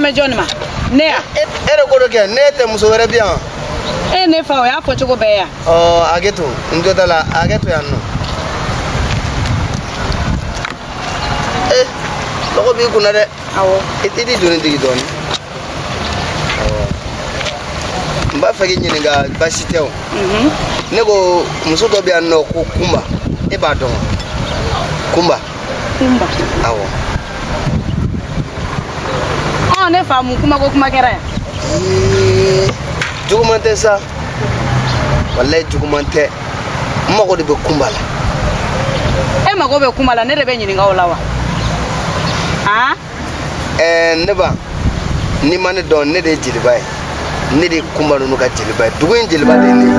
mɛ jɔn ma ne ya e de ko dɔ kɛ ne tɛ muso wɛrɛ bi yan e ne fa o y'a fɔ cogo bɛɛ ya ɔ hakɛ to n jo t'a la hakɛ to yan nɔ e lɔgɔ b'i kun na dɛ awɔ i t'i doni jigin dɔɔni awɔ n b'a fɛ k'i ɲininka baasi tɛ o mhm. ne ko muso dɔ bɛ yan nɔ ko kunba e b'a dɔn wa kunba kunba awɔ ɔ ne fa mun kuma ko kuma kɛra yan juguman tɛ sa walayi juguman tɛ n mago de bɛ kunba la e mago bɛ kunba la ne de bɛ ɲininka o la wa han ɛɛ ne ba n'i ma ne dɔn ne de ye jeliba ye ne de ye kunba ninnu ka jeliba ye dugu in jeliba de ye ne ye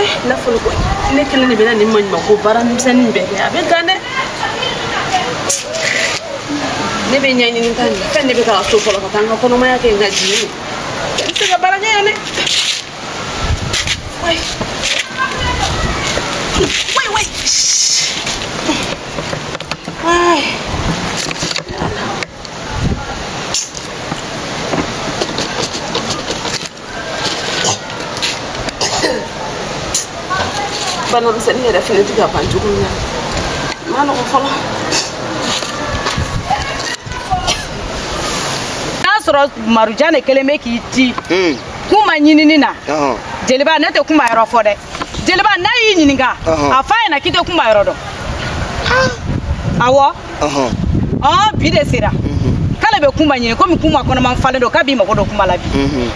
eh, n'a fɔra ko ne kelen de bɛna nin maɲuman ko baara misɛnnin bɛɛ kɛ a bɛ gan dɛ ne bɛ ɲɛɲini ta nin fɛn ne bɛ taa n ka so fɔlɔ ka taa n ka kɔnɔmaya kɛ n ka jigin n tɛ se ka baara kɛ yan dɛ wai wai wai wai bana misɛnnin yɛrɛ fɛnɛ ti ka ban cogo min na ma nɔgɔ fɔlɔ n'a sɔrɔ marujan de kelen bɛ k'i ci hmm. kunba ɲinini na jeliba ne tɛ kunba yɔrɔ fɔ dɛ jeliba n'a y'i ɲininka a f'a ɲɛna k'i tɛ kunba yɔrɔ dɔn awɔ ɔn bi de sera mhm. k'ale bɛ kunba ɲini komi kunba kɔnɔman falen don k'a b'i mago don kunba la bi mhm.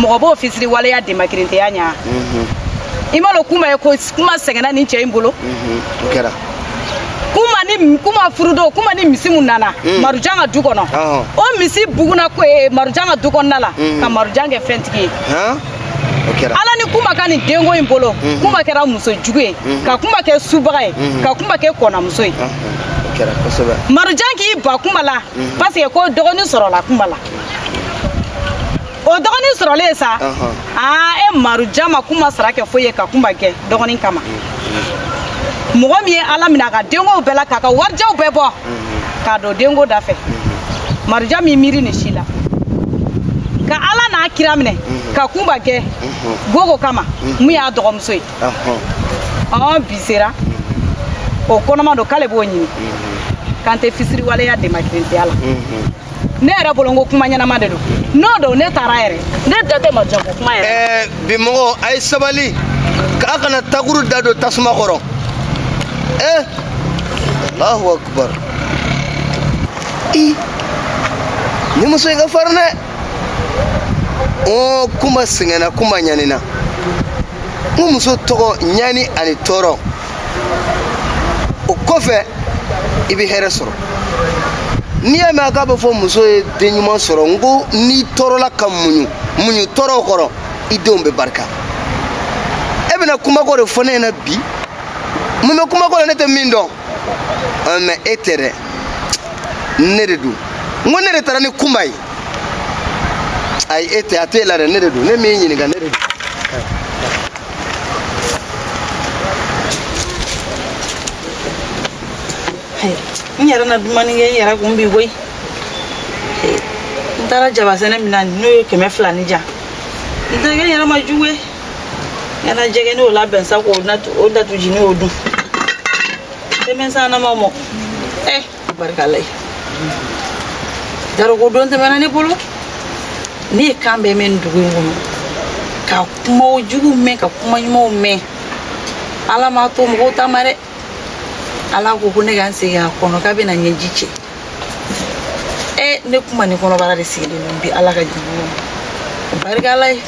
mɔgɔ b'o fisiriwaleya demakirintɛya ɲa mhm. i m'a dɔn kunba ye ko kunba sɛgɛnna nin cɛ in bolo kunba ni kunba furudon kunba ni misi mun nana mm. marujan ka du kɔnɔ o misi buguna marujan ka du kɔnɔna la ka marujan kɛ fɛntigi ye ala ni kunba ka nin denko in bolo mhm. kunba kɛra muso jugu ye mhm. ka kunba kɛ subaga ye mhm. ka kunba kɛ kɔnamuso ye marujan k'i ban kunba la parce que ko dɔgɔnin sɔrɔla kunba la o dɔgɔnin sɔrɔlen sa aa e marujan ma kunba sara kɛ foyi ye ka kunba kɛ dɔgɔnin kama mɔgɔ min ye ala minɛ a ka denkow bɛɛ la k'a ka warijaw bɛɛ bɔ k'a don denko da fɛ marujan min miiri nin si la ka ala n'a kira minɛ ka kunba kɛ gogo kama mun y'a dɔgɔmuso ye ɔn bi sera o kɔnɔma don k'ale b'o ɲini k'an tɛ fisiriwaleya demakirintiya la ne yɛrɛ bolo n ko kuma ɲɛnama de don n'o don ne taara yɛrɛ ne da tɛ marujan ko kuma yɛrɛ. ɛɛ bi mɔgɔ a ye sabali k'a kana takuru da don tasuma kɔrɔ ee alahu akubar nin muso in ka farin dɛ ɔ kunba sɛgɛnna kunba ɲanina n ko muso tɔgɔ ɲani ani tɔɔrɔ. o kɔfɛ i bɛ hɛrɛ sɔrɔ n'i y'a mɛn k'a bɛ fɔ muso ye den ɲuman sɔrɔ n ko n'i tɔɔrɔla ka muɲu muɲu tɔɔrɔw kɔrɔ i denw bɛ barika e bɛna kunba ko de fɔ ne ɲɛna bi mun bɛ kunba ko la ne tɛ min dɔn mɛ e tɛ dɛ ne de don n ko ne de taara ni kunba ye ayi e tɛ a t'e la dɛ ne de don ne min ɲininka ne de don n yɛrɛ na dumannin kɛ n yɛrɛ kun bi koyi n taara jabasɛnɛ min na n'o ye kɛmɛ fila ni jan n tɛ kɛ n yɛrɛ ma jugu ye n yɛrɛ jɛgɛ n'o labɛn sa k'o datu ji ni o dun denmisɛnnin ma mɔ ɛ barika ala ye jarogo don tɛmɛna ne bolo ne ye kan bɛɛ mɛn nin dugu in kɔnɔ ka kuma jugu mɛn ka kuma ɲumanw mɛn ala m'a to mɔgɔw ta ma dɛ ala ko ko ne ka n sigi a kɔnɔ k'a bɛna ɲɛji cɛ e ne kunba ni kɔnɔbara de sigilen don bi ala ka jugu barika ala ye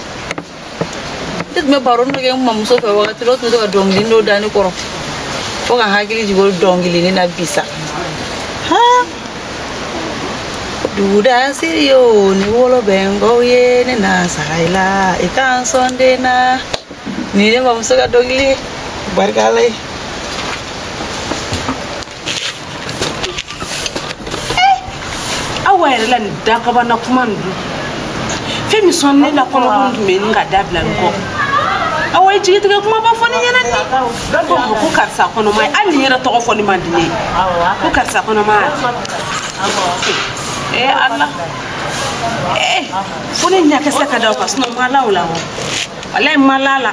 ne tun bɛ baro dɔ kɛ n mamuso fɛ wagati dɔ tun bɛ to ka dɔnkili dɔ da ne kɔrɔ fo ka n hakili jigin o dɔnkili nin na bi sa duguda siri ye o ni wolo bɛ n kɔ ye ne na sara i la i ka n sɔn den na nin ye ne mamuso ka dɔnkili barika ala ye awa yɛrɛ la nin dakabana kuma nin dun fɛn min sɔn ne la kɔnɔkun tun bɛ nka dabila n ko awa ye jigitigɛ kumaba fɔ ne ɲɛna ni ko ko karisa kɔnɔma ye hali nin yɛrɛ tɔgɔ fɔli man di ne ye ko karisa kɔnɔma ye ee ala ee fo ne ɲa ka se ka da o kan sinɔn ma la o la o walayi ma la la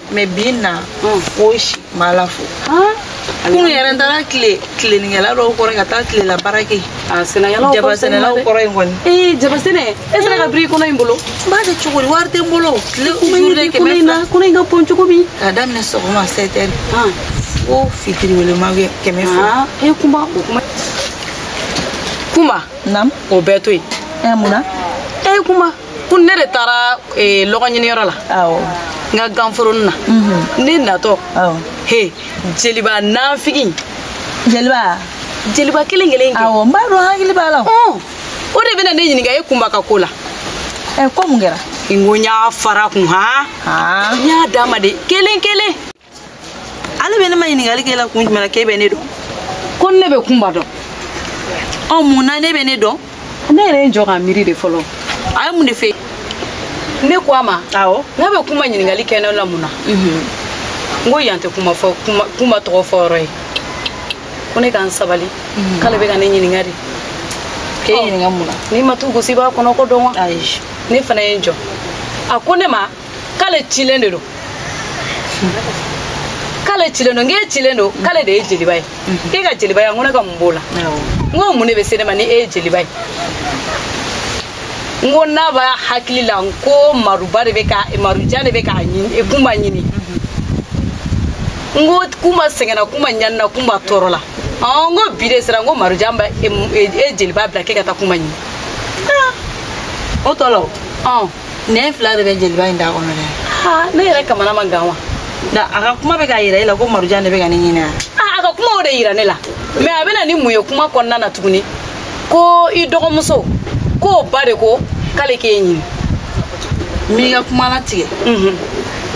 mɛ bi na o si ma la fo kunun yɛrɛ n taara tile tilenikɛla dɔw kɔrɔ ka taa tilela baara kɛ jabasɛnɛlaw kɔrɔ in kɔni ee jabasɛnɛ e sera ka biri kɔnɔ in bolo n b'a kɛ cogo di wari tɛ n bolo tile journée kɛmɛ fila kɔnɔ in ka bon cogo min k'a daminɛ sɔgɔma sept heures fo fitiri wele ma kɛmɛ fila e kunba o kuma kuma o bɛɛ to yen mun na e kuma ko ne de taara eh, lɔgɔ ɲiniyɔrɔ la n ka ganforonin na mhm. ne natɔ he jeliba nanfigi jeliba jeliba kelen kelen awɔ n b'a dɔn n hakili b'a la o de bɛna ne ɲininka e kunba ka ko la ɛ eh, ko mun kɛra n ko n y'a fara kun han n y'a d'a ma de kelen kelen ale bɛ ne maɲininkali k'e la kun jumɛn na k'e bɛ ne dɔn ko ne bɛ kunba dɔn ɔ mun na n'e bɛ ne dɔn ne yɛrɛ ye n jɔ ka miiri de fɔlɔ a ye mun de fɛ ne ko a ma awɔ n k'a bɛ kunba ɲininkali kɛ ne la mun na n ko yan tɛ kuma fɔ kuma kunba tɔgɔ fɔ yɔrɔ ye ko ne ka n sabali k'ale bɛ ka ne ɲininka de k'e ɲininka mun na n'i ma tu gosi i b'a kɔnɔko dɔn wa ayi ne fana ye n jɔ a ko ne ma k'ale cilen de don k'ale cilen don n k'e cilen don k'ale de ye jeliba ye mhm. k'e ka jeliba ye n ko ne ka mun b'o la n ko mun de bɛ se ne ma ni e ye jeliba ye n ko n'a b'a hakili la n ko maruba de bɛ ka marujan de bɛ k'a ɲini e kunba ɲini mhm. n ko kunba sɛgɛnna kunba ɲanina kunba tɔɔrɔla n ko bi de sera n ko marujan bɛ e, e, e jeliba bila k'e ka taa kunba ɲini ah. o tɔ la o nɛn fila de bɛ jeliba in da kɔnɔ dɛ ne yɛrɛ kamana ma gan wa da a ka kuma bɛ k'a yira e la ko marujan de bɛ ka ne ɲini yan a ka kuma o de yira ne la mɛ a bɛ na ni mun ye kuma kɔnɔna na tuguni ko i dɔgɔmuso k'o ba de ko k'ale k'e ɲini n b'i ka kuma latigɛ mhm.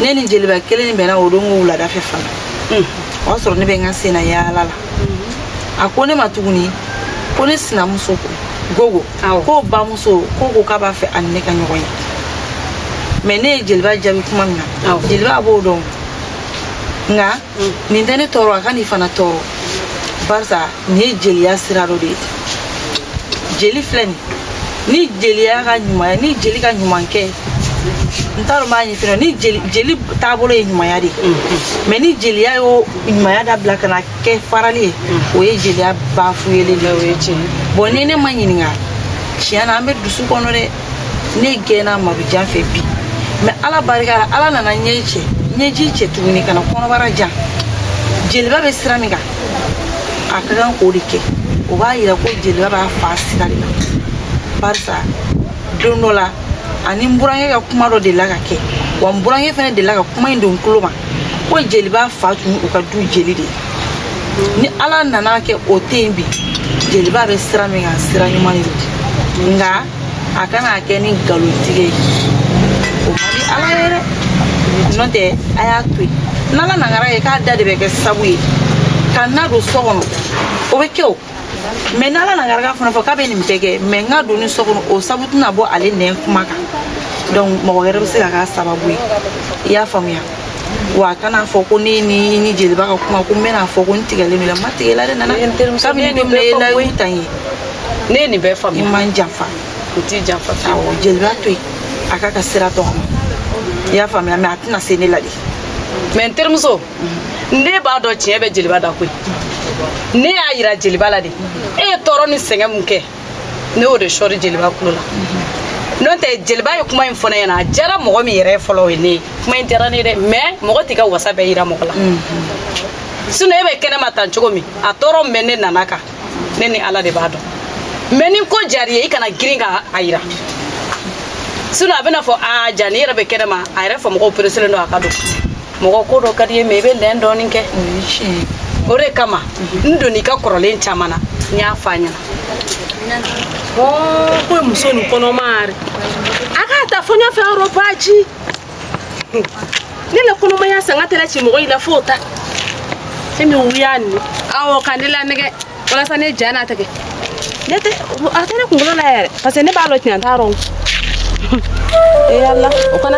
ne ni jeliba kelen bɛnna o don ko wuladafɛ fana mhm. o y'a sɔrɔ ne bɛ n ka senna yaala la a ko ne ma tuguni ko ne sinamuso ko gogo k'o bamuso ko ko k'a b'a fɛ a ni ne ka ɲɔgɔn ye mɛ ne ye jeliba jaabi kuma min na jeliba b'o dɔn nka mm. nin tɛ ne tɔɔrɔ a kan'i fana tɔɔrɔ barisa nin ye jeliya sira dɔ de ye jeli filɛ nin ni jeli y'a ka ɲuman ye ni jeli ka ɲuman kɛ n t'a dɔn b'a ɲɛfin dɔ ni jeli jeli taabolo ye ɲumanya de ye mɛ ni jeliya y'o ɲumanya dabila ka na kɛ farali ye o ye jeliya bafuyelen de ye o ye tiɲɛ bon ni ne ma ɲininka tiɲɛ na an bɛ dusu kɔnɔ dɛ ne gɛnna madujan fɛ bi mɛ ala barika la ala nana ɲɛ cɛ ɲɛji cɛ tuguni kana kɔnɔbara ja jeliba bɛ sira min kan a ka kan k'o de kɛ o b'a yira ko jeliba b'a fa sira de la barisa don dɔ la ani n burankɛ ka kuma dɔ delila ka kɛ wa n burankɛ fana delila ka kuma in don n tulo ma ko jeliba fa tun u ka du jeli de ye ni ala nana kɛ o tɛ yen bi jeliba bɛ sira min kan sira ɲuman de don nka a kana kɛ ni nkalontigɛ ye o man di ala ye dɛ n'o tɛ a y'a to yen n'ala nana kɛ k'a da de bɛ kɛ sabu ye ka na don so kɔnɔ o bɛ kɛ o mɛ ni ala na garaka fana fɔ k'a bɛ nin bɛɛ kɛ mɛ n ka donni so kɔnɔ o sabu tɛna bɔ ale nɛn kuma kan donc mɔgɔ wɛrɛ bɛ se ka k'a sababu ye i y'a faamuya wa a kana fɔ ko ne ni ni jeliba ka kuma ko n bɛna fɔ ko n tigɛlen don a la n ma tigɛ a la dɛ nana kabini don min na e layiru ta n ye ne ye nin bɛɛ faamuya i ma n janfa o t'i janfa awɔ jeliba to yen a k'a ka sira tɔgɔma i y'a faamuya mɛ a tɛna se ne la dɛ mɛ n terimuso ne b'a dɔn tiɲɛ bɛ jeliba da koyi ne y'a yira jeliba la de e ye tɔɔrɔ ni sɛgɛn min kɛ ne y'o de sɔri jeliba kulo la n'o tɛ jeliba ye kuma in fɔ ne ɲɛna a diyara mɔgɔ min yɛrɛ fɔlɔ o ye ne ye kuma in diyara ne ye dɛ mɛ mɔgɔ t'i ka wasa bɛɛ yira mɔgɔ la sinɔ e bɛ kɛnɛma tan cogo min a tɔɔrɔ min bɛ ne nana kan ne ni ala de b'a dɔn mɛ ni ko diyara i ye i kana girin ka a yira sinɔ a bɛna fɔ a jaa nin yɛrɛ bɛ kɛnɛma a yɛrɛ fɔ mɔgɔw pereselen don a ka don mɔgɔ ko dɔ ka di i ye mɛ i bɛ lɛn dɔɔni kɛ o de kama n donni ka kɔrɔlen caman na n y'a fɔ a ɲɛna ko ye muso nin kɔnɔma de a k'a ta fɔ ɲɛfɛ yɔrɔ baji ne la kɔnɔmaya sanga tɛla ci mɔgɔ i la fo ta e min wuya nin awɔ ka ne lanɛgɛ walasa ne ja na tigɛ ne tɛ a tɛ ne kunkolo la yɛrɛ parce que ne b'a dɔn tiɲɛ t'a rɔ ee ala o kana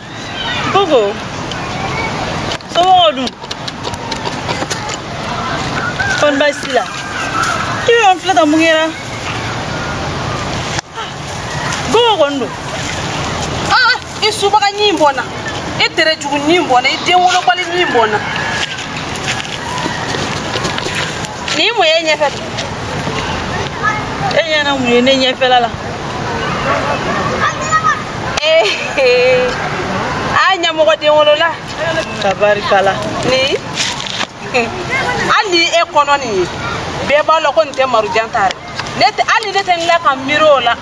Koko. Sɔmɔgɔ dun? Kɔni baasi t'i la? I bɛ ka n filɛ tan mun kɛra? Koko kɔni don. Aa i subaga ɲɛ in bɔ n na. I tere jugu ɲɛ in bɔ n na. I den wolobali ɲɛ in bɔ n na. Nin ye mun ye e ɲɛfɛ? E ɲɛna mun ye ne ɲɛfɛla la? eh, a ɲamɔgɔden wolola tabarikala ni hali e kɔnɔ nin ye bɛɛ b'a lɔn ko nin tɛ marujan ta ri ne tɛ hali ne tɛ n la ka miiri o la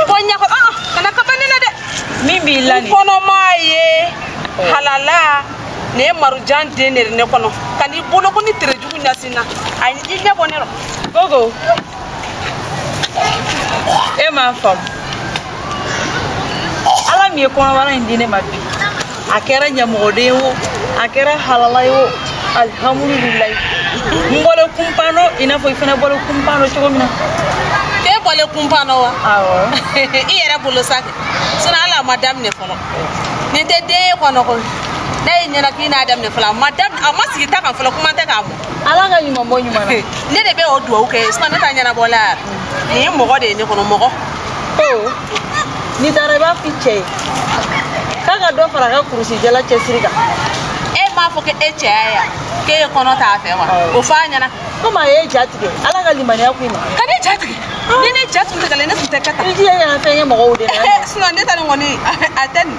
ko ɲɛkɔ aa kana kaba ne la dɛ min b'i la nin kɔnɔma ye halala nin ye marujan den de ye ne kɔnɔ kan'i bolokɔni terejugu ɲasin n na a i ɲɛ bɔ ne rɔ gogo e m'a faamu ala min ye kɔnɔbara in di ne ma bi a kɛra ɲamɔgɔden ye o a kɛra halala ye o alihamudulilayi n bɔlen kunpan dɔ i n'a fɔ i fana bɔlen kunpan dɔ cogo min na e bɔlen kunpan dɔ wa awɔ i yɛrɛ bolo sa kɛ sinɔ hali a ma daminɛ fɔlɔ nin tɛ den ye kɔnɔ koyi ne ye ɲɛna k'i n'a daminɛ fɔlɔ a ma daminɛ a ma sigi ta kan fɔlɔ kuma tɛ k'a mɔ ala ka ɲuman bɔ ɲuman na ne de bɛ o duwawu kɛ sinɔ ne ta ɲɛnabɔla yɛrɛ nin ye mɔgɔ de ye ne kɔnɔ mɔgɔ n'i taara i b'a f'i cɛ ye k'a ka dɔ fara a ka kurusi jala cɛsiri kan e m'a fɔ k'e cɛya yan k'e ye kɔnɔ ta fɛ wa o fɔ a ɲɛna komi a y'i ja tigɛ ala ka limaniya ko i ma ka ne ja tigɛ ni ne ja tun tigɛlen ne tun tɛ kɛ tan i jija ɲɛna fɛn ye mɔgɔw de la sinɔ ne ta nin kɔni a tɛ nin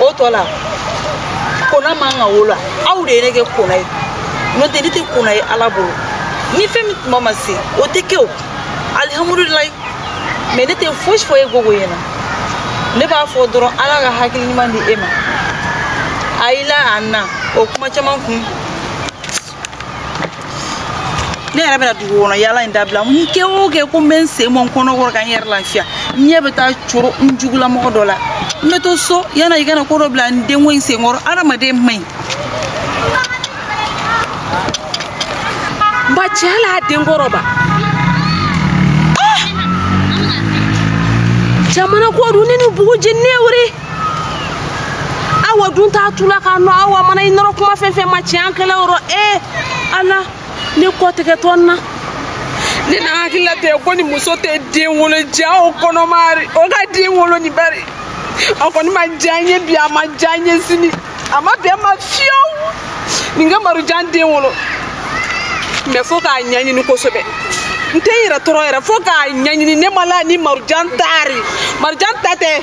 o tɔ la kona man ka wolo aw de ye ne kɛ kona ye n'o tɛ ne tɛ kona ye ala bolo ni fɛn min tuma ma se o tɛ kɛ o alihamudulilayi mɛ ne tɛ fosi fɔ e gogo ɲɛna ne b'a fɔ dɔrɔn ala ka hakili ɲuman di e ma a y'i la a na o kuma caman kun ne yɛrɛ bɛna dugu kɔnɔ yaala in dabila n kɛ o kɛ ko n bɛ n sen bɔ n kɔnɔ kɔrɔ ka n yɛrɛ lafiya n ɲɛ bɛ taa coro n jugulamɔgɔ dɔ la n bɛ to so yanni i ka na ko dɔ bila n denko in senkɔrɔ adamaden man ɲi ba tiɲɛ la a den kɔrɔ ba ah! jamana ko dun ne ni bugu jeni ne wuri awa dun t'a tula k'a nɔ awa mana i nɔrɔ kuma fɛn fɛn ma tiɲɛ an kɛlɛ yɔrɔ ee ala ne kɔ tigɛtɔ n na ne na hakili la tɛ ko nin muso tɛ den wolo ja o kɔnɔma ri o ka den wolo ni bari a kɔni ma diya n ye bi a ma diya n ye sini a ma bɛn ma fiyewu nin ka marujan den wolo mɛ fo k'a ɲɛɲini kosɛbɛ n tɛ n yɛrɛ tɔɔrɔ yɛrɛ fo k'a ɲɛɲini ne m'a lɔn ni marujan ta ri marujan ta tɛ